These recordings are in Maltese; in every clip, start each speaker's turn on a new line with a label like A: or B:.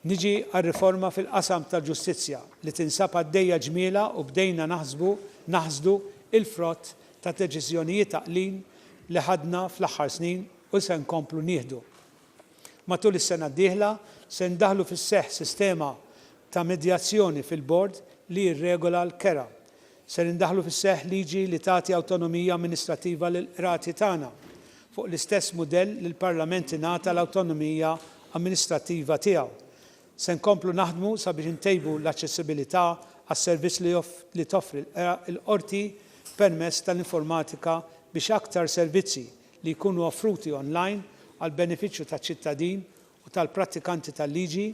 A: Niġi għar-riforma fil-qasam tal-ġustizzja li tinsab għaddejja ġmielha u bdejna naħsbu, naħsdu, il-frott ta' deċiżjonijiet għaqlin li ħadna fl-aħħar snin u li se nkomplu nieħdu. Matul is-sena d-dieħla se ndaħħlu fis-seħħ sistema ta' medjazzjoni fil-Bord li jirregola l-kera. Ser indaħħlu fis-seħħ liġi li tagħti awtonomija amministrattiva lill-qrati tagħna, fuq l-istess mudell li l-Parlament ingħata l-awtonomija amministrattiva tiegħu. Se nkomplu naħdmu sabiex intejbu l-aċċessibilità għas-servizz li toffri l-Qorti permezz tal-informatika biex aktar servizzi li jkunu offruti online għall-benefiċċju taċ-ċittadin u tal-prattikanti tal-liġi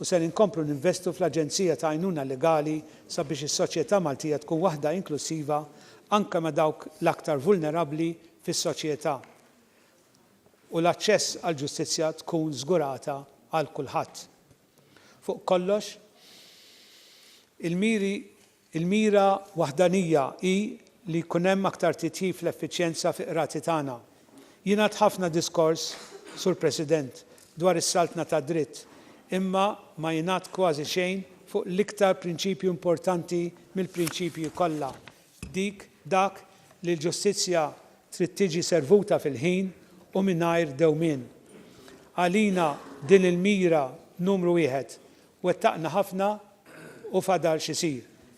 A: u ser inkomplu ninvestu fl-Aġenzija ta' Għajnuna Legali sabiex is-soċjetà Maltija tkun waħda inklussiva anke ma' dawk l-aktar vulnerabbli fis-soċjetà u l-aċċess għall-ġustizzja tkun żgurata għal kulħadd. Fuq kollox, il-miri Il-mira waħdanija hi li jkun hemm aktar titjib fl-effiċjenza fil-qrati tagħna. Jingħad ħafna diskors, Sur President, dwar is-saltna tad-dritt, imma ma jingħad kważi xejn fuq l-iktar prinċipju importanti mill-prinċipji kollha, dik dak li l-ġustizzja trid tiġi servuta fil-ħin u mingħajr dewmien. Għalina din il-mira numru wieħed. Wettaqna ħafna u fadal x'isir.